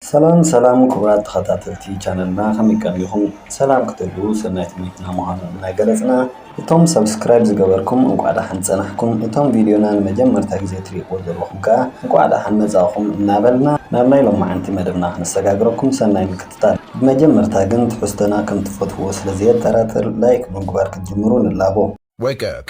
ሰላም ሰላም ክቡራት ተኸታተልቲ ቻነልና ከመይ ቀኒኹም ሰላም ክትህልዉ ሰናይ ትምኒትና ምዃኑ እናገለፅና እቶም ሰብስክራይብ ዝገበርኩም እንኳዕ ደሓን ፀናሕኩም እቶም ቪድዮና ንመጀመርታ ግዜ ትሪእዎ ዘለኹም ከዓ እንኳዕ ደሓን መፃእኹም እናበልና ናብ ናይ ሎማዓንቲ መደብና ክነሰጋግረኩም ሰናይ ምክትታል ብመጀመርታ ግን ትሕዝቶና ከምትፈትዉዎ ስለዘየጠራጥር ላይክ ብምግባር ክትጅምሩ ንላቦ። Wake up.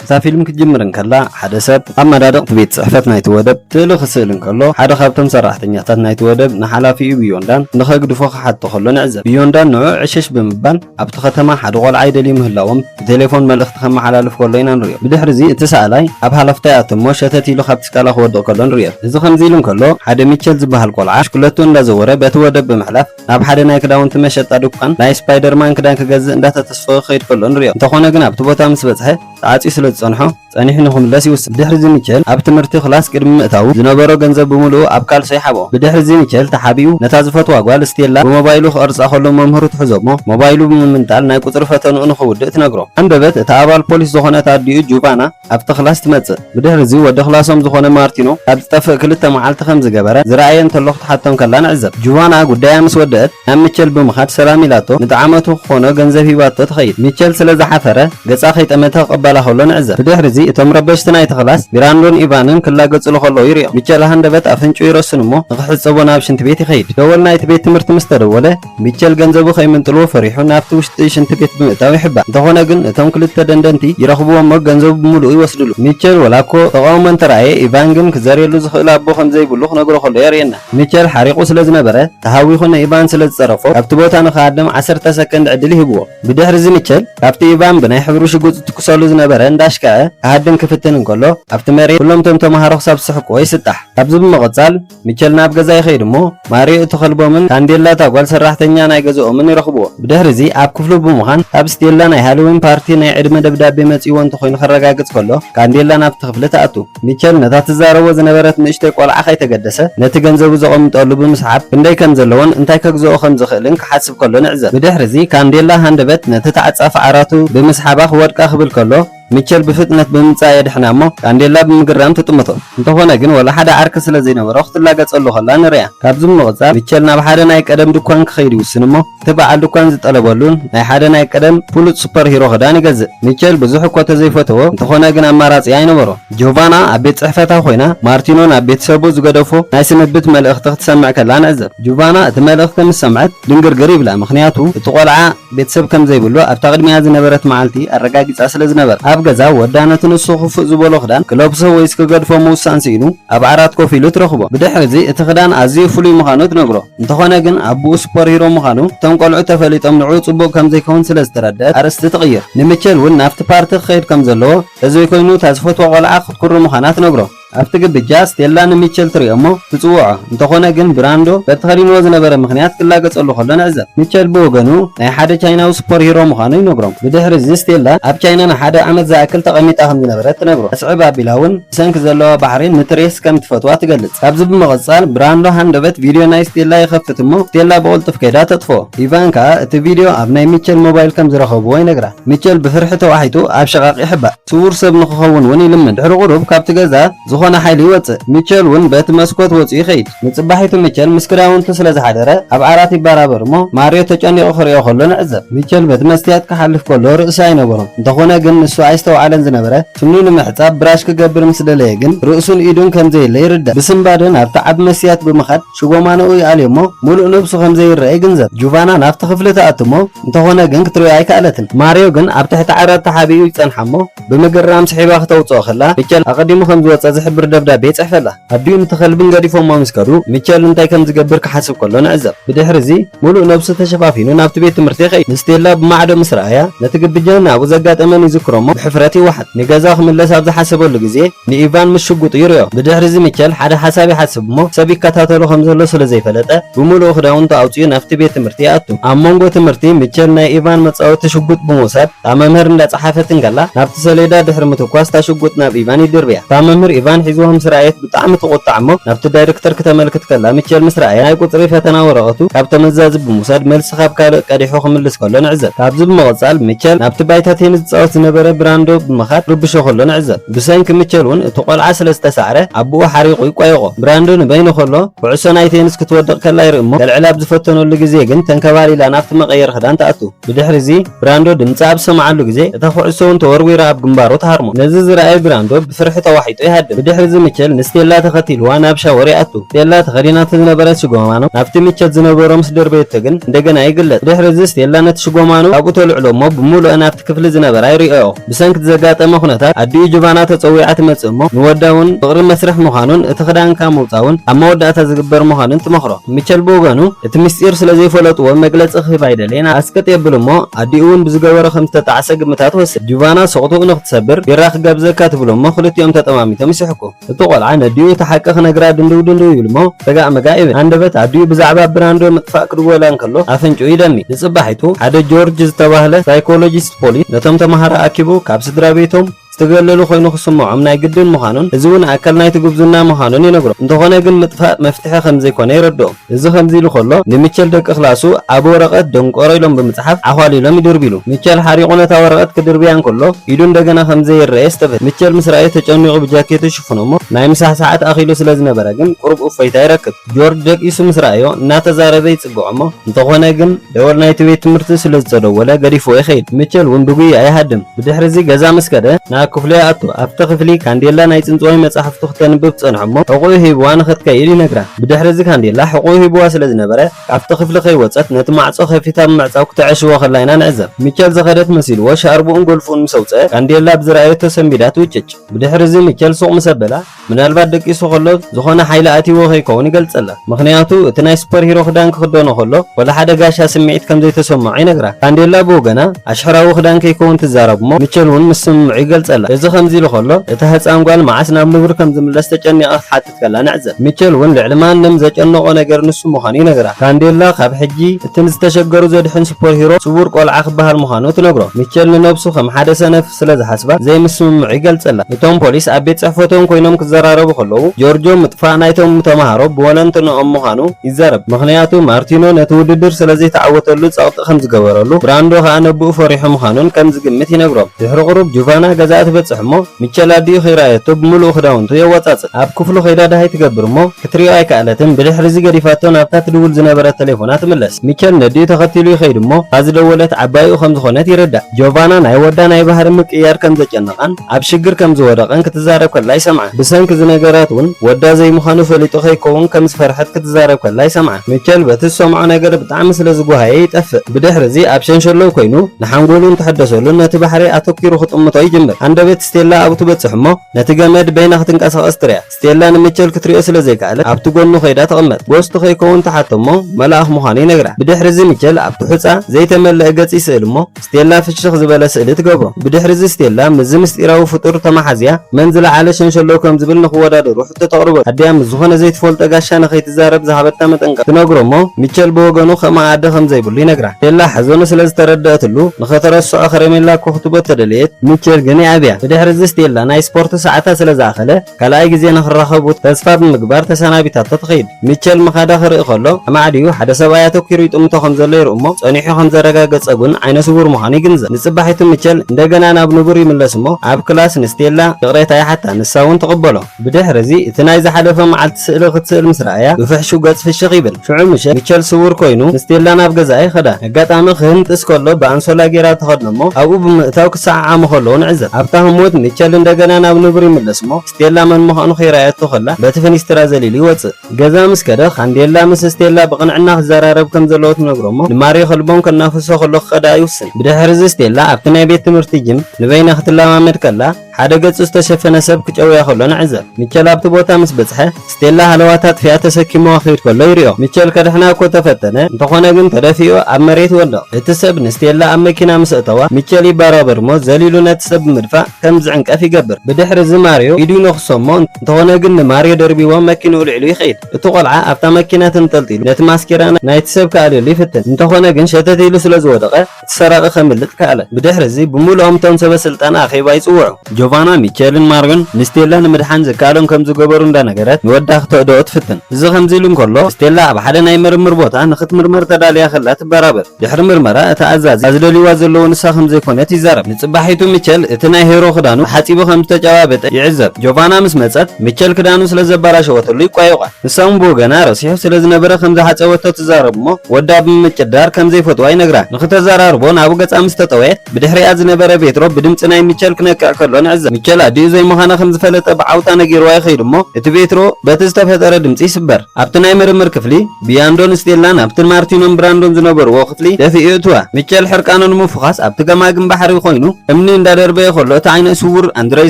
እታ ፊልም ክትጅምር እንከላ ሓደ ሰብ ኣብ መዳድቕቲ ቤት ጽሕፈት ናይቲ ወደብ ስእሊ ክስእል እንከሎ ሓደ ካብቶም ሰራሕተኛታት ናይቲ ወደብ ንሓላፊኡ ብዮንዳን ንኸግድፎ ክሓቶ ከሎ ንዕዘብ። ብዮንዳን ንዕኡ ዕሽሽ ብምባል ኣብቲ ከተማ ሓደ ቆልዓ ይደልዩ ምህላዎም ብቴሌፎን መልእኽቲ ከመሓላልፍ ከሎ ኢና ንሪኦ። ብድሕሪ እዚ እቲ ሰኣላይ ኣብ ሃለፍታ ይኣቱ እሞ ሸተት ኢሉ ካብቲ ስቃላ ክወድቕ ከሎ ንሪኦ። እዚ ከምዚ ኢሉ እንከሎ ሓደ ሚቸል ዝበሃል ቆልዓ ብሽክለትኡ እንዳዘወረ በቲ ወደብ ብምሕላፍ ናብ ሓደ ናይ ክዳውንቲ መሸጣ ዱኳን ናይ ስፓይደርማን ክዳን ክገዝእ እንዳተተስፈወ ክኸይድ ከሎ ንሪኦ። እንተኾነ ግን ኣብቲ ቦታ ምስ በጽሐ ተዓጽዩ ስለ ዝጸንሖ፣ ጸኒሑ ንኽምለስ ይውስን። ብድሕሪ'ዚ ሚቸል ኣብ ትምህርቲ ክላስ ቅድሚ ምእታዉ፣ ዝነበሮ ገንዘብ ብምሉኡ ኣብ ካልሶ ይሓብኦ። ብድሕሪ'ዚ ሚቸል ተሓቢኡ ነታ ዝፈትዋ ጓል ስቴላ ብሞባይሉ ክቐርጻ ከሎ መምህሩ ትሕዞ'ሞ ሞባይሉ ብምምንጣል ናይ ቁጽሪ ፈተንኡ ንኽውድእ ትነግሮ። ኣንበበት እታ ኣባል ፖሊስ ዝኾነት ኣዲኡ ጁቫና ኣብቲ ክላስ ትመጽእ። ብድሕሪ'ዚ ወዲ ክላሶም ዝኾነ ማርቲኖ ካብ ዝጠፍእ ክልተ መዓልቲ ከም ዝገበረ፣ ዝረኣየ እንተሎ ክትሓቶ እንከላ ንዕዘብ። ጁቫና ጉዳያ ምስ ወደእት ናብ ሚቸል ብምኻድ ሰላም ኢላቶ ንጠዓመቱ ክኾኖ ገንዘብ ሂባቶ ትኸይድ። ሚቸል ስለ ዝሓፈረ፣ ገጻ ከይጠመተ ክቕበላ ከሎ ንዕዘብ። ብድሕሪ'ዚ እቶም ረበሽቲ ናይቲ ክላስ፣ ቢራንዶን ኢቫንን ክላገጹሉ ከለዉ ይርእዮም። ሚቸል ሃንደበት ኣፍንጭኡ ይረስን እሞ ንኽሕጸቦ ናብ ሽንቲ ቤት ይኸይድ። ደወል ናይቲ ቤት ትምህርቲ ምስ ተደወለ፣ ሚቸል ገንዘቡ ከይምንጥልዎ ፈሪሑ ናብቲ ውሽጢ ሽንቲ ቤት ብምእታው ይሕባእ። እንተኾነ ግን እቶም ክልተ ደንደንቲ ይረኽብዎ እሞ ገንዘቡ ብምሉኡ ይወስድሉ። ሚቸል ወላ'ኮ ተቓውሞ እንተረኣየ፣ ኢቫን ግን ክዘርየሉ ዝኽእል ኣቦ ከም ዘይብሉ ክነግሮ ከሎ የርእየና። ሚቸል ሓሪቑ ስለ ዝነበረ፣ ተሃዊኹ ንኢቫን ስለ ዝጸረፎ፣ ካብቲ ቦታ ንኽሃድም ዓሰርተ ሰከንድ ዕድል ይህብዎ። ብድሕሪ'ዚ ሚቸል ካብቲ ኢቫን ብናይ ሕብሪ ሽጉጥ ዝትኩሰሉ ዝነበረ እንዳ ኣሽከዐ ክሃድን ክፍትን እንከሎ፣ ኣብቲ መሬት ኩሎም'ቶም ተመሃሮ ክሳብ ዝስሕቁዎ ይስጣሕ። ካብዚ ብምቕጻል ሚቸል ናብ ገዛ ይኸይድ እሞ ማርዮ እቲ ከልቦምን ካንዴላ እታ ጓል ሰራሕተኛ ናይ ገዝኦምን ይረኽቡዎ። ብድሕሪ'ዚ ኣብ ክፍሉ ብምዃን ካብ ስቴላ ናይ ሃሎዊን ፓርቲ ናይ ዕድመ ደብዳቤ መጺኡዎ እንተኾይኑ ከረጋግጽ ከሎ፣ ካንዴላ ናብቲ ክፍሊ ትኣቱ። ሚቸል ነታ ትዛረቦ ዝነበረት ንእሽቶይ ቈልዓ ከይተገደሰ ነቲ ገንዘቡ ዘቐምጠሉ ብምስዓብ ክንደይ ከም ዘለዎን እንታይ ከግዝኦ ከም ዝኽእልን ክሓስብ ከሎ ንዕዘብ። ብድሕርዚ ካንዴላ ሃንደበት ነቲ ተዓጻፊ ዓራቱ ብምስሓባ ክወድቃ ክብል ከሎ ሚቸል ብፍጥነት ብምምጻእ የድሕና እሞ ካንዴላ ብምግራም ትጥምቶ። እንተኾነ ግን ወላ ሓደ ዓርኪ ስለ ዘይነበሮ ክትላገጸሉ ከላ ንርእያ። ካብዚ ብምቕጻል ሚቸል ናብ ሓደ ናይ ቀደም ድኳን ክኸይድ ይውስን እሞ፣ እቲ በዓል ድኳን ዝጠለበሉን ናይ ሓደ ናይ ቀደም ፍሉጥ ሱፐር ሂሮ ክዳን ይገዝእ። ሚቸል ብዙሕ እኮ ተዘይፈተዎ፣ እንተኾነ ግን ኣማራጺ ኣይነበሮን። ጆቫና ኣብ ቤት ጽሕፈታ ኮይና ማርቲኖ ናብ ቤተሰቡ ዝገደፎ ናይ ስንብት መልእኽቲ ክትሰምዕ ከላ ንዕዘብ። ጆቫና እቲ መልእኽቲ ምስ ሰምዐት ድንግርግር ይብላ፣ ምኽንያቱ እቲ ቆልዓ ቤተሰብ ከም ዘይብሉ ኣብታ ቅድሚኣ ዝነበረት መዓልቲ ኣረጋጊጻ ስለ ዝነበረት። ኣብ ገዛ ወዳ ነቲ ንሱ ክፉእ ዝበሎ ክዳን ክለብሶ ወይስ ክገድፎ ምውሳን ስኢኑ ኣብ ዓራት ኮፍ ኢሉ ትረኽቦ። ብድሕሪ'ዚ እቲ ክዳን ኣዝዩ ፍሉይ ምዃኑ ትነግሮ። እንተኾነ ግን ኣቡኡ ሱፐር ሂሮ ምዃኑ እቶም ቆልዑ ተፈሊጦም ንዕኡ ጽቡቕ ከም ዘይከውን ስለ ዝተረድኣት ኣርእስቲ ትቕይር። ንሚቸል እውን ናብቲ ፓርቲ ክኸይድ ከም ዘለዎ ተዘይኮይኑ እታ ዝፈትዋ ቆልዓ ክትኩሪ ምዃና ትነግሮ። ኣብቲ ግብጃ ስቴላ ንሚቸል ትሪኦ እሞ ትጽውዖ። እንተኾነ ግን ብራንዶ በቲ ከዲንዎ ዝነበረ ምኽንያት ክላገጸሉ ከሎ ንዕዘብ። ሚቸል ብወገኑ ናይ ሓደ ቻይናዊ ሱፐር ሂሮ ምዃኑ ይነግሮም። ብድሕሪ'ዚ ስቴላ ኣብ ቻይና ንሓደ ዓመት ዝኣክል ተቐሚጣ ከም ዝነበረት ትነግሮ። ኣስዕብ ኣቢላ እውን፣ ብሰንኪ ዘለዋ ባህሪ ንትሬስ ከም ትፈትዋ ትገልጽ። ካብዚ ብምቕጻል ብራንዶ ሃንደበት ቪድዮ ናይ ስቴላ ይኸፍት እሞ ስቴላ ብቕልጡፍ ከይዳ ተጥፍኦ። ኢቫን ከኣ እቲ ቪድዮ ኣብ ናይ ሚቸል ሞባይል ከም ዝረኸብዎ ይነግራ። ሚቸል ብፍርሒ ተዋሒጡ ኣብ ሽቓቕ ይሕባእ። ስዉር ሰብ ንኽኸውን እውን ይልምን። ድሕሪ ቁሩብ ካብቲ ገዛ ዝኾነ ሓይሊ ይወጽእ። ሚቸል እውን በቲ መስኮት ወጺኡ ይኸይድ። ንጽባሒቱ ሚቸል ምስ ክዳውንቱ ስለ ዝሓደረ ኣብ ዓራት ይበራበር እሞ ማርዮ ተጨኒቑ ክርእዮ ከሎ ንዕዘብ። ሚቸል በቲ መስትያት ክሓልፍ ከሎ ርእሲ ኣይነበሮን። እንተኾነ ግን ንሱ ኣይስተውዓለን ዝነበረ። ስኑ ንምሕጻብ ብራሽ ክገብር ምስ ደለየ ግን ርእሱን ኢዱን ከም ዘየለ ይርዳእ። ብስንባደ ናብቲ ዓቢ መስትያት ብምኻድ ሽቦማኖኡ ይኣልዮ'ሞ ምሉእ ነብሱ ከም ዘይረኣ ይግንዘብ። ጁቫና ናብቲ ክፍሊ ትኣቱ'ሞ እንተኾነ ግን ክትሪኦ ኣይከኣለትን። ማርዮ ግን ኣብ ትሕቲ ዓራት ተሓቢኡ ይጸንሓ'ሞ ብምግራም ስሒባ ክተውጽኦ ከላ ሚቸል ኣቐዲሙ ከም ዝወጸ ዝሕብር ደብዳቤ ይጽሕፈላ። ኣዲኡን እቲ ከልብን ገዲፎሞ ምስ ከዱ፣ ሚቸል እንታይ ከም ዝገብር ክሓስብ ከሎ ንዕዘብ። ብድሕርዚ፣ ምሉእ ነብሱ ተሸፋፊኑ ናብቲ ቤት ትምህርቲ ይኸይድ። ንስቴላ ብማዕዶ ምስ ረኣያ፣ ነቲ ግብጃን ኣብኡ ዘጋጠመን ይዝክሮ'ሞ ብሕፍረት ይወሓጥ። ንገዛኡ ክምለስ ኣብ ዝሓሰበሉ ግዜ፣ ንኢቫን ምስ ሽጉጡ ይርእዮ። ብድሕርዚ ሚቸል ሓደ ሓሳብ ይሓስብ'ሞ፣ ሰብ ይከታተሎ ከም ዘሎ ስለ ዘይፈለጠ፣ ብምሉኡ ክዳውንቱ ኣውጺኡ ናብቲ ቤት ትምህርቲ ይኣቱ። ኣብ መንጎ ትምህርቲ፣ ሚቸል ናይ ኢቫን መጻወቲ ሽጉጥ ብምውሳድ፣ እታ መምህር እንዳጸሓፈት እንከላ ናብቲ ሰሌዳ ድሕሪ ምትኳስ እታ ሽጉጥ ናብ ኢቫን ይድርብያ። እታ መምህር ኢቫን ሒዝዋ ምስ ረኣየት ብጣዕሚ ትቑጣዕ እሞ ናብቲ ዳይርክተር ክተመልክት ከላ ሚቸል ምስ ረኣያ ናይ ቁጽሪ ፈተና ወረቐቱ ካብ ተመዛዚ ብምውሳድ መልሲ ካብ ካልእ ቀዲሑ ክምልስ ከሎ ንዕዘብ። ካብዚ ብምቕጻል ሚቸል ናብቲ ባይታ ቴኒስ ዝጻወት ዝነበረ ብራንዶ ብምኻድ ክርብሾ ከሎ ንዕዘብ። ብሰንኪ ሚቸል ውን እቲ ቆልዓ ስለ ዝተሳዕረ ኣቡኡ ሓሪቑ ይቋየቖ። ብራንዶ ንበይኑ ከሎ ኩዕሶ ናይ ቴኒስ ክትወድቕ ከላ ይርኢ እሞ ከልዕላ ኣብ ዝፈተነሉ ግዜ ግን ተንከባሊላ ናብቲ መቐየሪ ክዳን ትኣቱ። ብድሕሪ'ዚ ብራንዶ ድምጻ ኣብ ዝሰምዓሉ ግዜ፣ እታ ዅዕሶ'ውን ተወርዊራ ኣብ ግንባሩ ትሃርሞ። ነዚ ዝረኣየ ብራንዶ ብፍርሒ ተዋሒጡ ይሃድም። ብድሕሪ'ዚ ሚቸል ንስቴላ ተኸቲልዋ ናብ ሻወር ይኣቱ። ስቴላ ተኸዲናቶ ዝነበረት ሽጎማኖ ናብቲ ሚቸል ዝነበሮ ምስ ደርበየቶ ግን እንደገና ይግለጽ። ብድሕሪ'ዚ ስቴላ ነቲ ሽጎማኖ ካብኡ ተልዕሎ'ሞ ብምሉኣን ኣብቲ ክፍሊ ዝነበራ ይርእያኦ። ብሰንኪ'ቲ ዘጋጠመ ኩነታት፣ ኣዲኡ ጅቫና ተጸዊዓ ትመጽእ እሞ፣ ንወዳ እውን ፍቕሪ መስርሕ ምዃኑን እቲ ክዳንካ ምውጻእ'ውን ኣብ መወዳእታ ዝግበር ምዃኑን ትመኽሮ። ሚቸል ብወገኑ፣ እቲ ምስጢር ስለ ዘይፈለጡዎ መግለጺ ክህብ ኣይደለየን፣ ኣስቅጥ የብል እሞ፣ ኣዲኡ እውን ብዝገበሮ ከም ዝተጣዕሰ ግምታ ትወስድ። ጅቫና ስቕትኡ ንኽትሰብር፣ ቢራ ክጋብዘካ ትብሎ እሞ ክልቲኦም ተጠማሚቶም ይስሕቁ። እቲ ቆልዓ ነዲኡ እቲ ሓቂ ክነግራ ድንድው ድንድው ይብል'ሞ ረጋእ መጋእ ይብል። ሃንደበት ኣዲኡ ብዛዕባ ብራንዶ ምጥፋእ ክድወላ እንከሎ ኣፍንጭኡ ይደሚ። ንጽባሒቱ ሓደ ጆርጅ ዝተባህለ ሳይኮሎጂስት ፖሊስ ነቶም ተማሃሮ ኣኪቡ ካብ ስድራቤቶም ዝተገለሉ ኮይኑ ክስምዖም ናይ ግድን ምዃኑን እዚ'ውን ኣካል ናይቲ ጉብዝና ምዃኑን ይነግሮም። እንተኾነ ግን ምጥፋእ መፍትሒ ከምዘይኮነ የረድኦም። እዚ ከምዚ ኢሉ ከሎ ንሚቸል ደቂ ክላሱ ኣብ ወረቐት ደንቆሮ ኢሎም ብምጽሓፍ ዓዃሊሎም ይድርብይሉ። ሚቸል ሓሪቑ ነታ ወረቐት ክድርብያ እንከሎ ኢዱ እንደገና ከም ዘይረኣየስ ተፈትዩ። ሚቸል ምስ ረኣዮ ተጨኒቑ ብጃኬቱ ይሽፍኖ'ሞ ናይ ምሳሕ ሰዓት ኣኺሉ ስለ ዝነበረ ግን ቁሩብ እፎይታ ይረክብ። ጆርጅ ደቂሱ ምስ ረኣዮ እናተዛረበ ይጽግዖ'ሞ እንተኾነ ግን ደወል ናይቲ ቤት ትምህርቲ ስለ ዝተደወለ ገዲፍዎ ይኸይድ። ሚቸል ውን ብጉያ ይሃድም። ብድሕሪ'ዚ ገዛ ምስ ከደ ናብ ክፍሉ ይኣቱ። ኣብቲ ክፍሊ ካንዴላ ናይ ጽንጽዋይ መጻሕፍቱ ክተንብብ ትጸንሕ'ሞ ሕቖኡ ሂብዋ ንኽትከይድ ይነግራ። ብድሕሪ'ዚ ካንዴላ ሕቖኡ ሂቡዋ ስለ ዝነበረ፣ ካብቲ ክፍሊ ከይወጸት ነቲ ማዕጾ ከፊታ ብምዕጻው ክትዐሽዎ ከላ ኢና ንዕዘብ። ሚቸል ዝኸደት መሲልዎ ሻርብኡን ጎልፎኡን ምስ ኣውጽኣ፣ ካንዴላ ብዝረኣየቶ ሰንቢዳ ትውጭጭ። ብድሕሪ'ዚ ሚቸል ሱቕ ምስ ኣበላ፣ ምናልባት ደቂሱ ከሎ ዝኾነ ሓይሊ ኣትይዎ ከይከውን ይገልጸላ። ምኽንያቱ እቲ ናይ ሱፐር ሂሮ ክዳን ክኽደኖ ከሎ ወላ ሓደ ጋሻ ስምዒት ከም ዘይተሰምዖ ይነግራ። ካንዴላ ብወገና ኣሽሕራዊ ክዳን ከይከውን ትዛረብ'ሞ ሚቸል'ውን ምስ ስምምዑ ይገልጸላ። እዚ ከምዚ ኢሉ ከሎ እታ ህጻን ጓል መዓስ ናብ ንቡር ከም ዝምለስ ተጨኒቓ ክትሓትት ከላ ንዕዘብ። ሚቸል እውን ልዕሊ ማንም ዘጨንቖ ነገር ንሱ ምዃኑ ይነግራ። ካንዴላ ካብ ሕጂ እቲ ንዝተሸገሩ ዘድሕን ሱፐርሂሮ ስዉር ቈልዓ ክበሃል ምዃኑ ትነግሮ። ሚቸል ንነብሱ ከም ሓደ ሰነፍ ስለ ዝሓስባ ዘይምስምምዑ ይገልጸላ። እቶም ፖሊስ ኣብ ቤት ጽሕፈቶም ኰይኖም ክዘራረቡ ከለዉ፣ ጆርጆ ምጥፋእ ናይቶም ተመሃሮ ብወለንትንኦም ምዃኑ ይዛረብ። ምኽንያቱ ማርቲኖ ነቲ ውድድር ስለ ዘይተዓወተሉ ጸቕጢ ከም ዝገበረሉ፣ ብራንዶ ከኣ ነብኡ ፈሪሑ ምዃኑን ከም ዝግምት ይነግሮም። ድሕሪ ቁሩብ ጁቫና ገዛኣ ትበጽሕ እሞ፣ ምቸላ ድዩ ከይረኣየቶ ብምሉኡ ክዳውንቱ የዋጻጽእ ኣብ ክፍሉ ከይዳ ደሃይ ትገብር እሞ ክትሪኦ ኣይከኣለትን ብድሕሪዚ ገዲፋቶ ናብታ ትድውል ዝነበረት ተሌፎና ትምለስ ሚቸል ነዲኡ ተኸቲሉ ይኸይድ እሞ እታ ዝደወለት ዓባይኡ ከም ዝኾነት ይርዳእ ጆቫና ናይ ወዳ ናይ ባህሪ ምቅይያር ከም ዘጨነቓን ኣብ ሽግር ከም ዝወደቐን ክትዛረብ ከላ ይሰምዓ ብሰንኪ ዝነገራት ውን ወዳ ዘይምዃኑ ፈሊጡ ከይከውን ከም ዝፈርሐት ክትዛረብ ከላ ይሰምዓ ሚቸል በቲ ዝሰምዖ ነገር ብጣዕሚ ስለ ዝጎሃየ ይጠፍእ። ብድሕር'ዚ ኣብ ሸንሸሎው ኮይኑ ንሓንጎሉን ተሐደሰሉን ነቲ ባሕሪ ኣተኲሩ ክጥምቶ ይጅምር። ሃንደበት ስቴላ ኣብኡ ትበጽሕ'ሞ ነቲ ገመድ በይና ክትንቀሳቐስ ትሪኣ። ስቴላ ንሚቸል ክትሪኦ ስለ ዘይከኣለት ኣብቲ ጎኑ ከይዳ ትቕመጥ። ጎስቱ ከይከውን ትሓቶ'ሞ መልኣኽ ምዃኑ ይነግራ። ብድሕር'ዚ ሚቸል ኣብቲ ሑጻ ዘይተመለኣ ገጽ ይስእል'ሞ፣ ስቴላ ፍሽኽ ዝበለ ስእሊ ትገብሮ። ብድሕሪ'ዚ ስቴላ ምስዚ ምስጢራዊ ፍጡር ተመሓዝያ መን ዝለዓለ ሸንሸሎ ከም ዝብል ንኽወዳደሩ ሕቶ ተቕርበሉ። ኣዲኣ ምስ ዝኾነ ዘይትፈልጦ ጋሻ ንኸይትዛረብ ዝሃበታ መጠንቀቕታ ትነግሮ'ሞ ሚቸል ብወገኑ ከምኣ ኣደ ከም ዘይብሉ ይነግራ። ስቴላ ሓዘኑ ስለ ዝተረደኣትሉ ንኸተረስዖ ከረሜላ እኮ ክትቦ ተደለየት። ሚቸል ግን ይኣብያ። ብድሕሪ'ዚ ስቴላ ናይ ስፖርት ሰዓታ ስለ ዝኣኸለ፣ ካልኣይ ግዜ ንኽራኸቡ ተስፋ ብምግባር ተሰናቢታቶ ትኸይድ። ሚቸል ምኻዳ ክርኢ ከሎ፣ ኣማዕድዩ ሓደ ሰብኣይ ኣተኲሩ ይጥምቶ ከም ዘሎ ይርኢ እሞ፣ ጸኒሑ ከም ዘረጋገጸ ግን ዓይነ ስዉር ምዃኑ ይግንዘብ። ንጽባሒቱ ሚቸል እንደገና ናብ ንቡር ይምለስ እሞ፣ ኣብ ክላስ ንስቴላ ይቕሬታ ይሓታ፣ ንሳ እውን ትቕበሎ። ብድሕርዚ እቲ ናይ ዝሓለፈ መዓልቲ ስእሊ ክትስእል ምስ ረኣያ፣ ብፍሕሹው ገጽ ፍሽኽ ይብል። ሽዑ ምሸት፣ ሚቸል ስዉር ኮይኑ ንስቴላ ናብ ገዛኣ ይኸዳ። ኣጋጣሚ ክህንጥስ ከሎ ብኣንሶላ ጌራ ትኸድኖ እሞ ኣብኡ ብምእታው ክሰዓዓሙ ከለዉ ንዕዘብ። ኣብታ ህሞት ሚቸል እንደገና ናብ ንቡር ይምለስ እሞ ስቴላ መን ምዃኑ ከይረኣየቶ ከላ በቲ ፍኒስትራ ዘሊሉ ይወጽእ። ገዛ ምስ ከደ ካንዴላ ምስ ስቴላ ብቕንዕና ክዘራረብ ከም ዘለዎ ትነግሮ እሞ ንማርዮ ከልቦም ከናፍሶ ከሎ ክኸዳ ይውስን። ብድሕርዚ ስቴላ ኣብቲ ናይ ቤት ትምህርቲ ጂም ንበይና ክትለማመድ ከላ፣ ሓደ ገጹ ዝተሸፈነ ሰብ ክጨውያ ከሎ ንዕዘብ። ሚቸል ኣብቲ ቦታ ምስ በጽሐ፣ ስቴላ ሃለዋታ ኣጥፊኣ ተሰኪምዋ ክኸይድ ከሎ ይሪኦ። ሚቸል ከድሕና እኮ ተፈተነ፣ እንተኾነ ግን ተደፊኡ ኣብ መሬት ይወድቕ። እቲ ሰብ ንስቴላ ኣብ መኪና ምስ ኣእተዋ፣ ሚቸል ይበራበር እሞ ዘሊሉ ነቲ ሰብ ብምድፋእ ከም ዝዕንቀፍ ይገብር። ብድሕሪ እዚ ማርዮ ኢዱ ይነኽሶ እሞ እንተኾነ ግን ንማርዮ ደርቢዎ መኪንኡ ልዒሉ ይኸይድ። እቲ ቆልዓ ኣብታ መኪና ተንጠልጢሉ ነቲ ማስኬራ ናይቲ ሰብ ክኣልየሉ ይፍትን፣ እንተኾነ ግን ሸተት ኢሉ ስለ ዝወደቐ፣ እቲ ሰራቒ ከምልጥ ከኣለ። ብድሕርዚ ብምሉኦም እቶም ሰበ ስልጣን ኣኼባ ይጽውዑ። ጆቫና፣ ሚቸልን ማርዮን ንስቴላ ንምድሓን ዝከኣሎም ከም ዝገበሩ እንዳነገረት ንወዳ ክተእድኦ ትፍትን። እዚ ከምዚ ኢሉ እንከሎ ስቴላ ኣብ ሓደ ናይ ምርምር ቦታ ንኽትምርመር ተዳልያ ከላ ትበራበር። ድሕሪ ምርመራ እቲ ኣዛዚ እታ ዝደልይዋ ዘለዉ ንሳ ከም ዘይኮነት ይዛረብ። ንጽባሒቱ ሚቸል እቲ ናይ ሄሮ ክዳኑ ተሓጺቡ ከም ዝተጨባበጠ ይዕዘብ። ጆቫና ምስ መጸት ሚቸል ክዳኑ ስለ ዘበላሸወትሉ ይቋየቋ። ንሳ'ውን ብወገና ረሲሑ ስለ ዝነበረ ከም ዝሓጸበቶ ትዛረብ እሞ ወዳ ብምጭዳር ከም ዘይፈትዋ ይነግራ። ንኽተዘራርቦ ናብኡ ገጻ ምስ ተጠወየት ብድሕሪኣ ዝነበረ ቬትሮ ብድምጺ ናይ ሚቸል ክነቅዕ ከሎ ንዕዘብ። ሚቸል ኣዲኡ ዘይምዃና ከም ዝፈለጠ ብዓውታ ነጊርዋ ይኸይድ እሞ እቲ ቬትሮ በቲ ዝተፈጠረ ድምጺ ይስበር። ኣብቲ ናይ ምርምር ክፍሊ ብያንዶን ስቴላን ኣብቲ ማርቲኖን ብራንዶን ዝነበርዎ ክፍሊ ደፊኡ የእትዋ። ሚቸል ሕርቃኑ ንምፍዃስ ኣብቲ ገማግም ባሕሪ ኮይኑ እምኒ እንዳደርበየ ከሎ እቲ ዓይነ ስዉር ኣንድረይ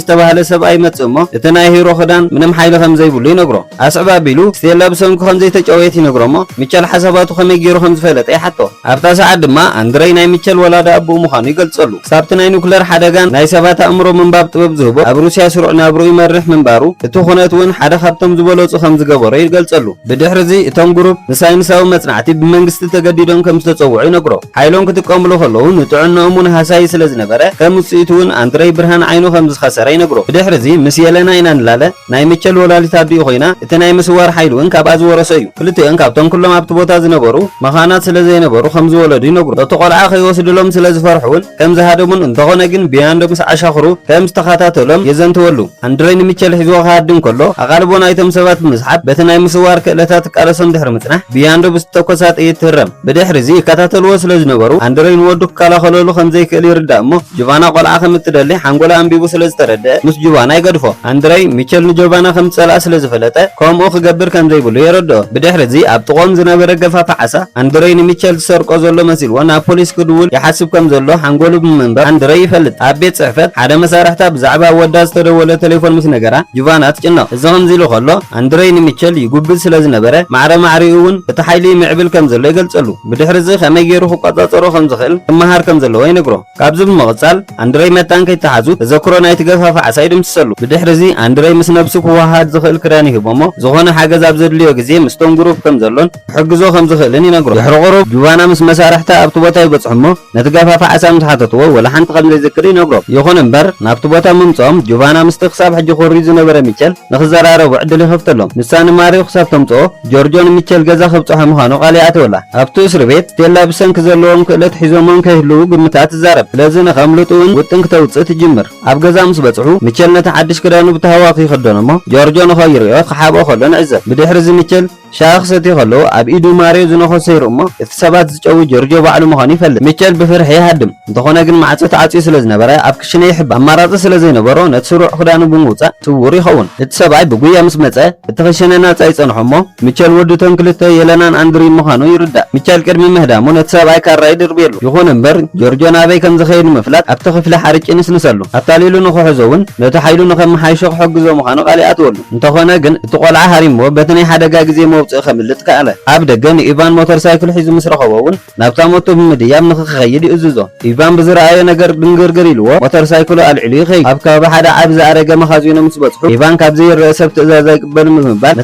ዝተባህለ ሰብኣይ ይመጽእ እሞ እቲ ናይ ሂሮ ክዳን ምንም ሓይሊ ከምዘይብሉ ይነግሮ። ኣስዕብ ኣቢሉ ስቴላ ብሰንኩ ከምዘይተጨወየት ይነግሮ'ሞ ሚቸል ሓሳባቱ ከመይ ጌሩ ከምዝፈለጠ ይሓቶ። ኣብታ ሰዓት ድማ ኣንድረይ ናይ ሚቸል ወላዲ ኣቡኡ ምዃኑ ይገልጸሉ። ክሳብ'ቲ ናይ ኑክለር ሓደጋን ናይ ሰባት ኣእምሮ ምንባብ ጥበብ ዝህቦ ኣብ ሩስያ ስሩዕ ናብርኡ ይመርሕ ምንባሩ እቲ ኩነት'ውን ሓደ ካብቶም ዝበለጹ ከምዝገበሮ ይገልጸሉ። ብድሕሪ'ዚ እቶም ግሩፕ ንሳይንሳዊ መጽናዕቲ ብመንግስቲ ተገዲዶም ከምዝተጸውዑ ይነግሮ። ሓይሎም ክጥቀምሉ ከለዉ ንጥዕንኦም'ውን ሃሳዪ ስለ ዝነበረ፣ ከም ውጽኢቱ'ውን ኣንድረይ ብርሃን ዓይኑ ከም ዝኸሰረ ይነግሩ። ብድሕሪ'ዚ ምስ የለና ኢና ንላለ፣ ናይ ምቸል ወላዲት ኣዲኡ ኮይና፣ እቲ ናይ ምስዋር ሓይሊ'ውን ካብኣ ዝወረሶ እዩ። ክልቲኤን ካብቶም ኩሎም ኣብቲ ቦታ ዝነበሩ መኻናት ስለ ዘይነበሩ ከም ዝወለዱ ይነግሩ። እቲ ቆልዓ ከይወስድሎም ስለ ዝፈርሑ'ውን ከም ዝሃደሙን እንተኾነ ግን ብያንዶ ምስ ዓሻኽሩ ከም ዝተኸታተሎም የዘንትወሉ። ኣንድረይ ንምቸል ሒዝዎ ክሃድም ከሎ ኣቓልቦ ናይቶም ሰባት ብምስሓብ በቲ ናይ ምስዋር ክእለታ ትቃለሶም ድሕሪ ምጽናሕ ብያንዶ ብዝተተኮሳ ጥይት ትህረም። ብድሕሪ'ዚ ይከታተልዎ ስለ ዝነበሩ፣ ኣንድረይ ንወዱ ክከላኸለሉ ከም ዘይክእል ይርዳእ እሞ፣ ጁቫና ቆልዓ ከም እትደሊ ሓንጎሉ ኣንቢቡ ስለ ዝተረድኣ፣ ምስ ጁቫና ይገድፎ። ኣንድረይ፣ ሚቸል ንጆቫና ከም ዝጸልኣ ስለ ዝፈለጠ፣ ከምኡ ክገብር ከም ዘይብሉ የረድኦ። ብድሕሪ'ዚ ኣብ ጥቕኦም ዝነበረ ገፋፊ ዓሳ፣ ኣንድረይ ንሚቸል ዝሰርቆ ዘሎ መሲልዎ ናብ ፖሊስ ክድውል ይሓስብ ከም ዘሎ ሓንጎሉ ብምንባብ ኣንድረይ ይፈልጥ። ኣብ ቤት ጽሕፈት፣ ሓደ መሳርሕታ ብዛዕባ ወዳ ዝተደወለ ተሌፎን ምስ ነገራ፣ ጁቫና ትጭነቕ። እዚ ከምዚ ኢሉ ከሎ፣ ኣንድረይ ንሚቸል ይጉብዝ ስለ ዝነበረ፣ ማዕረ ማዕሪኡ እውን እቲ ሓይሊ ይምዕብል ከም ዘሎ ይገልጸሉ። ብድሕርዚ ከመይ ገይሩ ክቆጻጸሮ ከም ዝኽእል ክመሃር ከም ዘለዎ ይነግሮ። ካብዚ ብምቕጻል፣ ኣንድረይ መታን ከይተሓዙ ተዘክሮ ናይቲ ገፋፊ ዓሳ ይድምስሰሉ። ብድሕርዚ፣ ኣንድረይ ምስ ነብሱ ክወሃሃድ ዝኽእል ክዳን ይህቦ'ሞ፣ ዝኾነ ሓገዝ ኣብ ዘድልዮ ግዜ ምስቶም ግሩፕ ከም ዘሎን፣ ክሕግዞ ከም ዝኽእልን ይነግሮ። ድሕሪ ቁሩብ፣ ጁቫና ምስ መሳርሕታ ኣብቲ ቦታ ይበጽሑ እሞ ነቲ ገፋፊ ዓሳ ምስ ሓተትዎ ወላ ሓንቲ ከም ዘይዝክር ይነግሮም። ይኹን እምበር፣ ናብቲ ቦታ ምምጽኦም ጁቫና ምስቲ ክሳብ ሕጂ ኮርዩ ዝነበረ ሚቸል ንኽዘራረቡ ዕድል ይኸፍተሎም። ንሳ ንማርዮ ክሳብ ተምጽኦ ጆርጆ ንሚቸል ገዛ ክብጽሖ ምዃኑ ቃል ይኣትወላ። ኣብቲ እስርቤት፣ ስቴላ ብሰንኪ ዘለዎም ክእለት ሒዞምዎም ከይህልዉ ግምታ ትዛረብ። ስለዚ ንኸምልጡ'ውን ውጥን ክተውጽእ ትጅምር። ኣብ ገዛ ምስ በጽሑ፣ ሚቸል ነቲ ሓድሽ ክዳኑ ብታህዋኽ ይኽደኖ'ሞ ጆርጆ ንኸይርእዮ ክሓብኦ ከሎ ንዕዘብ። ብድሕሪ እዚ ሚቸል። ሻሂ ክሰቲ ከሎ ኣብ ኢዱ ማርዮ ዝነኾሰ ይርእ'ሞ፣ እቲ ሰባት ዝጨዊ ጆርጆ ባዕሉ ምዃኑ ይፈልጥ። ሚቸል ብፍርሒ ይሃድም፣ እንተኾነ ግን ማዕጾ ተዓጽዩ ስለ ዝነበረ ኣብ ክሽነ ይሕባእ። ኣማራጺ ስለ ዘይነበሮ ነቲ ስሩዕ ክዳኑ ብምውጻእ ስዉር ይኸውን። እቲ ሰብኣይ ብጉያ ምስ መጸ እቲ ክሽነ ናጻ ይጸንሖ'ሞ፣ ሚቸል ወዲ እቶም ክልተ የለናን ኣንድሪን ምዃኑ ይርዳእ። ሚቸል ቅድሚ ምህዳሙ ነቲ ሰብኣይ ካራ ይድርብየሉ። ይኹን እምበር ጆርጆ ናበይ ከም ዝኸይድ ንምፍላጥ ኣብቲ ክፍሊ ሓርጭ ይንስንሰሉ። ኣታሊሉ ንኽሕዞ'ውን ነቲ ሓይሉ ንኸመሓይሾ ክሕግዞ ምዃኑ ቃል ይኣትወሉ። እንተዀነ ግን፣ እቲ ቈልዓ ሃሪምዎ በቲ ናይ ሓደጋ ግዜ መውጽኢ ከምልጥ ከኣለ። ኣብ ደገ ንኢቫን ሞተር ሳይክል ሒዙ ምስ ረኸቦ'ውን ናብታ ሞቶ ብምድያብ ንኽኸይድ ይእዝዞ። ኢቫን ብዝረኣዮ ነገር ድንግርግር ኢልዎ ሞተር ሳይክሉ ኣልዒሉ ይኸይድ። ኣብ ከባቢ ሓደ ዓቢ ዝኣረገ መኻዚኖ ምስ በጽሑ፣ ኢቫን ካብ ዘይርኣ ሰብ ትእዛዝ ኣይቅበልን ብምባል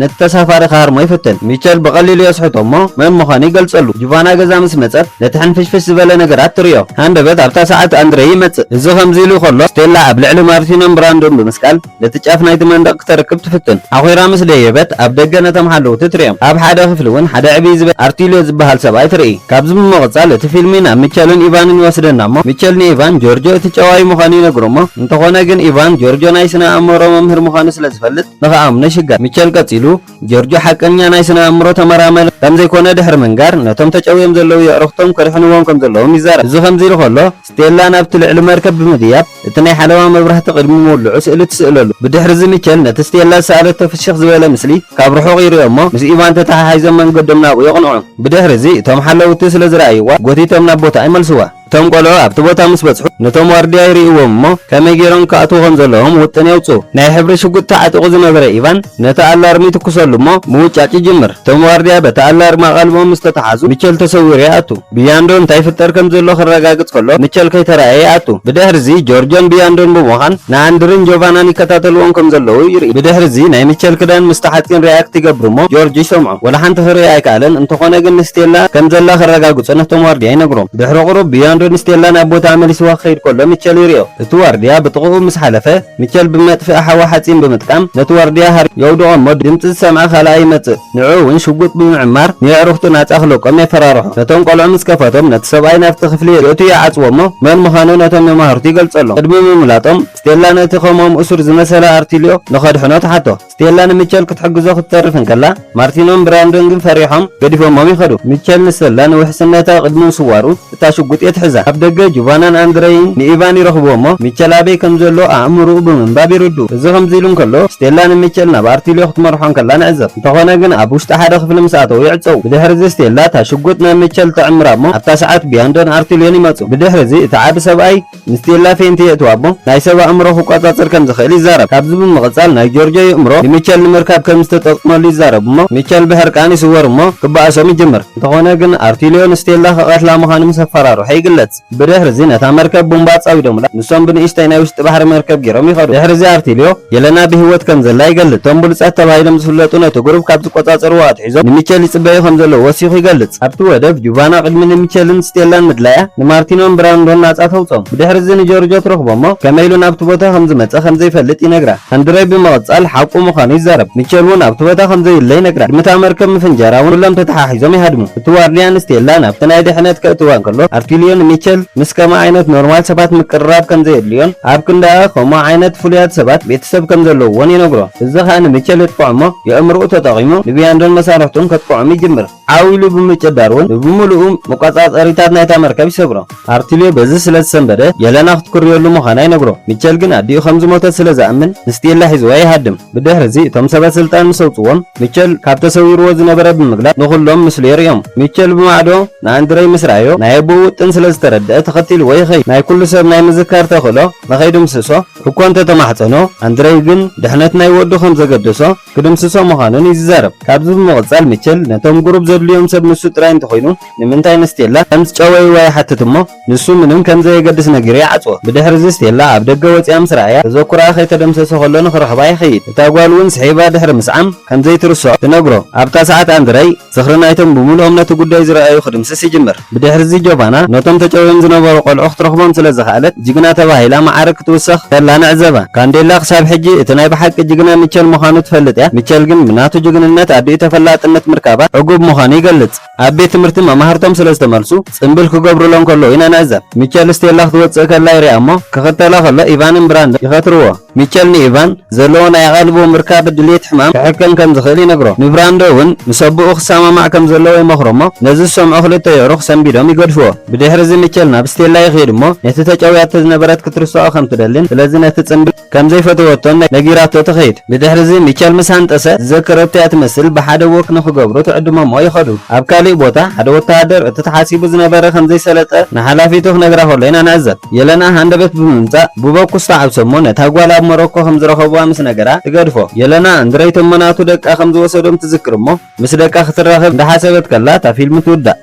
ነቲ ተሳፋሪ ክሃርሞ ይፍትን። ሚቸል ብቐሊሉ የስሕቶ'ሞ መን ምዃኑ ይገልጸሉ። ጁቫና ገዛ ምስ መጸት ነቲ ሕንፍሽፍሽ ዝበለ ነገራት ትርእዮ። ሃንደበት ኣብታ ሰዓት ኣንድረይ ይመጽእ። እዚ ከምዚ ኢሉ ከሎ፣ ስቴላ ኣብ ልዕሊ ማርቲኖን ብራንዶን ብምስቃል፣ ነቲ ጫፍ ናይቲ መንደቕ ክተርክብ ትፍትን። ሓኺራ ምስ ደየበት፣ ኣብ ደገ ነቶም ሓለውቲ ትርእዮም። ኣብ ሓደ ክፍሊ እውን ሓደ ዕብይ ዝበለ ኣርቲልዮ ዝበሃል ሰብኣይ ትርኢ። ካብዚ ብምቕጻል እቲ ፊልሚ ናብ ሚቸልን ኢቫንን ይወስደና እሞ፣ ሚቸል ንኢቫን፣ ጆርጆ እቲ ጨዋዪ ምዃኑ ይነግሮ እሞ፣ እንተኾነ ግን ኢቫን፣ ጆርጆ ናይ ስነ-ኣእምሮ መምህር ምዃኑ ስለ ዝፈልጥ ንኽኣምኖ ይሽገር። ሚቸል ቀጺሉ፣ ጆርጆ ሓቀኛ ናይ ስነ-ኣእምሮ ተመራመሪ ከም ዘይኮነ ድሕሪ ምንጋር፣ ነቶም ተጨውዮም ዘለዉ የዕሩኽቶም ከድሕንዎም ከም ዘለዎም ይዛረብ። እዚ ከምዚ ኢሉ ከሎ፣ ስቴላ ናብቲ ልዕሊ መርከብ ብምድያብ፣ እቲ ናይ ሓለዋ መብራህቲ ቅድሚ ምውልዑ ስእሊ ትስእለሉ። ብድሕርዚ ሚቸል ነቲ ስቴላ ዝሰኣለቶ ፍሽኽ ዝበለ ምስሊ ካብ ርሑቕ ይርእዮ'ሞ፣ ምስ ኢቫን ተተሓሒዞም መንገዶም ናብኡ የቕንዑ። ብድሕርዚ እቶም ሓለውቲ ስለ ዝረኣይዋ፣ ጎቲቶም ናብ ቦታኣ ይመልስዋ። እቶም ቈልዑ ኣብቲ ቦታ ምስ በጽሑ፣ ነቶም ዋርድያ ይርእይዎም'ሞ፣ ከመይ ገይሮም ክኣትዉ ከም ዘለዎም ውጥን የውጽኡ። ናይ ሕብሪ ሽጉጥ ተዓጢቑ ዝነበረ ኢቫን ነቲ ኣላርም ይትኩሰሉ'ሞ፣ ምውጫጭ ይጅምር። እቶም ዋርድያ በቲ ኣላርም ኣቓልቦኦም ምስ ተታሓዙ፣ ሚቸል ተሰዊሩ ይኣቱ። ብያንዶ እንታይ ይፍጠር ከም ዘሎ ክረጋግጽ ከሎ ምቸል ከይተራእየ ይኣቱ። ብድሕርዚ ጆርጆን ብያንዶን ብምዃን ንኣንድርን ጆቫናን ይከታተልዎም ከም ዘለዉ ይርኢ። ብድሕርዚ ናይ ምቸል ክዳን ምስ ተሓጺን ሪኣክት ይገብር እሞ ጆርጅ ይሰምዖ። ወላ ሓንቲ ክርኢ ኣይከኣለን እንተኾነ ግን ንስቴላ ከም ዘላ ክረጋግጹ ነቶም ዋርድያ ይነግሮም። ድሕሪ ቁሩብ ብያንዶ ንስቴላ ናብ ቦትኣ መሊስዋ ክኸይድ ከሎ ምቸል ይሪኦ። እቲ ዋርድያ ብጥቕኡ ምስ ሓለፈ ምቸል ብመጥፍኢ ሓዊ ሓጺን ብምጥቃም ነቲ ዋርድያ ሃሪሙ የውድቖ እሞ ድምጺ ዝሰምዐ ካልኣ ይመጽእ። ንዕኡ እውን ሽጉጥ ብምዕማር ንየዕሩኽቱ ናጻ ክለቆም የፈራርሖ። ነቶም ቆልዑ ምስ ከፈቶም ነቲ ሰብኣይ ናብቲ ክፍሊ የእትዩ ይዓጽዎ እሞ መን ምዃኑ ነቶም መማህርቱ ይገልጸሎም። ቅድሚ ምምላጦም ስቴላ ነቲ ከምኦም እሱር ዝመሰለ ኣርቲልዮ ንኸድሕኖ ትሓቶ። ስቴላ ንሚቸል ክትሕግዞ ክትተርፍ እንከላ ማርቲኖን ብራንዶን ግን ፈሪሖም ገዲፎሞም ይኸዱ። ሚቸል ንሰላ ንውሕስነታ ቅድሚ ምስዋሩ እታ ሽጉጥ እየ ትሕዛ። ኣብ ደገ ጁቫናን ኣንድረይን ንኢቫን ይረኽብዎ'ሞ፣ ሚቸል ኣበይ ከም ዘሎ ኣእምሮኡ ብምንባብ ይርድኡ። እዚ ከምዚ ኢሉ እንከሎ፣ ስቴላ ንሚቸል ናብ ኣርቲልዮ ክትመርሖ እንከላ ንዕዘብ። እንተዀነ ግን ኣብ ውሽጢ ሓደ ክፍሊ ምስ ኣተዉ ይዕጸዉ። ብድሕሪ'ዚ ስቴላ እታ ሽጉጥ ናብ ሚቸል ትዕምራ'ሞ፣ ኣብታ ሰዓት ቢያንዶን ኣርቲልዮን ይመጹ። ብድሕሪ'ዚ እቲ ዓቢ ሰብኣይ። ንስቴላ ፌንቲ የእትዋ እሞ ናይ ሰብ ኣእምሮ ክቆጻጸር ከም ዝኽእል ይዛረብ። ካብዚ ብምቕጻል ናይ ጆርጆ የእምሮ ንሚቸል ንምርካብ ከም ዝተጠቕመሉ ይዛረብ እሞ ሚቸል ብሕርቃን ይስወር እሞ ክበኣሶም ይጅምር። እንተኾነ ግን ኣርቲልዮ ንስቴላ ክቐትላ ምዃኑ ምስ ኣፈራርሖ ይግለጽ። ብድሕርዚ ነታ መርከብ ቡምባ ኣጻዊዶምላ ንሶም ብንእሽተይ ናይ ውሽጢ ባሕሪ መርከብ ጌሮም ይኸዱ። ድሕርዚ ኣርቲልዮ የለና ብሂወት ከም ዘላ ይገልጽ። እቶም ብሉጻት ተባሂሎም ዝፍለጡ ነቲ ጉሩብ ካብ ዝቆጻጸርዎ ኣትሒዞም፣ ሒዞም ንሚቸል ይጽበዩ ከም ዘለዉ ወሲኹ ይገልጽ። ኣብቲ ወደብ፣ ጁቫና ቅድሚ ንሚቸልን ስቴላን ምድላያ፣ ንማርቲኖን ብራንዶን ናጻ ተውጽኦም። ብድሕሪ'ዚ ንጆርጆ ትረኽቦ'ሞ፣ ከመይ ኢሉ ናብቲ ቦታ ከም ዝመጸ ከም ዘይፈልጥ ይነግራ። ኣንድረይ ብምቕጻል ሓቁ ምዃኑ ይዛረብ። ሚቸል'ውን ኣብቲ ቦታ ከም ዘዩለ ይነግራ። ቅድሚ እታ መርከብ ምፍንጃራ'ውን ኩሎም ተተሓሒዞም ይሃድሙ። እቲ ዋርድያ ንስቴላ ናብቲ ናይ ድሕነት ከእትዋ እንከሎ፣ ኣርቲልዮ ንሚቸል ምስ ከምኣ ዓይነት ኖርማል ሰባት ምቅርራብ ከም ዘየድልዮን ኣብ ክንዳኣ ከምኡ ዓይነት ፍሉያት ሰባት ቤተሰብ ከም ዘለዉዎን ይነግሮ። እዚ ኸኣ ንሚቸል የጥቅዖ እሞ የእምሮኡ ተጠቒሙ ንብያንዶን መሳርሕቱን ከጥቅዖም ይጅምር። ዓው ኢሉ ብምጭዳር እውን ንብምሉኡ መቆጻጸሪታት ናይታ መርከብ ይሰብሮ። ኣርቲልዮ በዚ ስለ ዝሰንበደ የለና ክትኩርየሉ ምዃና ይነግሮ። ሚቸል ግን ኣዲኡ ከም ዝሞተት ስለ ዝኣምን ንስቴላ ሒዝዋ ይሃድም። ብድሕርዚ እቶም ሰበ ስልጣን ምስ ኣውጽዎም ሚቸል ካብ ተሰዊርዎ ዝነበረ ብምግላጽ ንኹሎም ምስሉ የርእዮም። ሚቸል ብማዕዶ ንኣንድረይ ምስ ረኣዮ ናይ ኣቦኡ ውጥን ስለ ዝተረድኣ ተኸቲልዎ ይኸይድ። ናይ ኩሉ ሰብ ናይ ምዝካር ተኽእሎ ንኸይድምስሶ፣ እኳ እንተ ተማሕጸኖ፣ ኣንድረይ ግን ድሕነት ናይ ወዱ ከም ዘገደሶ ክድምስሶ ምዃኑን እዩ ዝዛረብ። ካብዚ ብምቕጻል ሚቸል ነቶም ቁሩብ ዘድልዮም ሰብ ንሱ ጥራይ እንተኾይኑ ንምንታይ ንስቴላ ከም ዝጨወይዋ ይሓትት እሞ ንሱ ምንም ከም ዘየገድስ ነጊሩ ይዓጽዎ። ብድሕርዚ ስቴላ ኣብ ደገ ወጺኣ ምስ ረኣያ ተዘኩራኣ ከይተደምሰሰ ከሎ ንኽረኽባ ይኸይድ። እታ ጓል እውን ስሒባ ድሕሪ ምስዓም ከም ዘይትርስዖ ትነግሮ። ኣብታ ሰዓት ኣንድረይ። ዝኽሪ ናይቶም ብምሉኦም ነቲ ጉዳይ ዝረኣዩ ክድምስስ ይጅምር። ብድሕርዚ ጆቫና ነቶም ተጨውዮም ዝነበሩ ቆልዑ ክትረኽቦም ስለ ዝኸኣለት ጅግና ተባሂላ መዓርግ ክትውሰኽ ከላ ንዕዘባ። ካንዴላ ክሳብ ሕጂ እቲ ናይ ብሓቂ ጅግና ሚቸል ምዃኑ ትፈልጥ እያ፣ ሚቸል ግን ብናቱ ጅግንነት ኣዲኡ ተፈላጥነት ምርካባ ዕጉብ ምዃኑ ይገልጽ። ኣብ ቤት ትምህርቲ መማህርቶም ስለ ዝተመልሱ ጽምብል ክገብሩሎም ከለዉ ኢና ንዕዘብ። ሚቸል ስቴላ ክትወጽእ ከላ ይሪኣ እሞ ክኽተላ ከሎ ኢቫንን ብራንደን ይኸትርዎ። ሚቸል ንኢቫን ዘለዎ ናይ ኣቓልቦ ምርካብ ድሌት ሕማም ክሕከም ከም ዝኽእል ይነግሮ። ንብራንዶ እውን ምስ ኣቦኡ ክሰማማዕ ከም ዘለዎ ይመኽሮ እሞ ነዚ ዝሰምዑ ክልተ የዕሩኽ ሰንቢዶም ይገድፍዎ። ብድሕርዚ ሚቸል ናብ ስቴላ ይኽይድ እሞ ነቲ ተጨውያቶ ዝነበረት ክትርስዖ ከም ትደልን ስለዚ ነቲ ጽምብል ከም ዘይፈተወቶን ነጊራቶ ትኸይድ። ብድሕርዚ ሚቸል ምስ ሃንጠሰ ዝዘከረቶ እያ ትመስል ብሓደ ዎክ ንኽገብሩ ትዕድሞ እሞ ይኸዱ። ኣብ ካልእ ቦታ ሓደ ወተሃደር እቲ ተሓሲቡ ዝነበረ ከም ዘይሰለጠ ንሓላፊቱ ክነግራ ከሎ ኢና ንዕዘብ። የለና ሃንደበት ብምምጻእ ብበኩስ ተዓብሰ'ሞ ነታ ጓል ኣብ ሞሮኮ ከም ዝረኸቡዋ ምስ ነገራ ትገድፎ። የለና እንድረይቶ'ሞ ናቱ ደቃ ከም ዝወሰዶም ትዝክር'ሞ ምስ ደቃ ክትራኸብ እንዳሓሰበት ከላ እታ ፊልም ትውዳእ።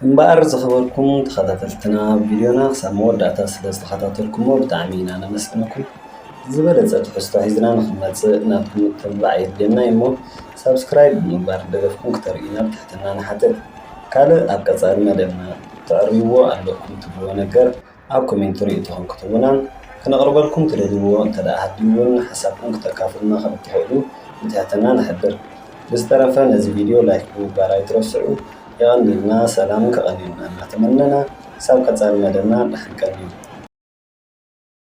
እምበኣር ዝኸበርኩም ተኸታተልትና ቪድዮና ክሳብ መወዳእታ ስለ ዝተኸታተልኩሞ ብጣዕሚ ኢና ነመስግነኩም። ዝበለጸ ትሕዝቶ ሒዝና ንኽንመጽእ ናትኩም ምትብባዕ የድልየና'ዩ እሞ ሳብስክራይብ ብምግባር ደገፍኩም ክተርእዩና ብትሕትና ንሓትት። ካልእ ኣብ ቀጻሊ መደብና። ተዕርይዎ ኣለኩም ትብልዎ ነገር ኣብ ኮሜንቲ ርእይቶኹም ክትቡናን ክነቕርበልኩም ትደልይዎ እንተደኣ ሃልዩውን ሓሳብኩም ክተካፍሉና ከም እትኽእሉ ብትሕትና ንሕብር። ብዝተረፈ ነዚ ቪድዮ ላይክ ብምግባር ኣይትረስዑ። የቐንልና ሰላምን ከቐንየልና እናተመነና ክሳብ ቀጻሊ መደብና ድሓን ቀንዩ።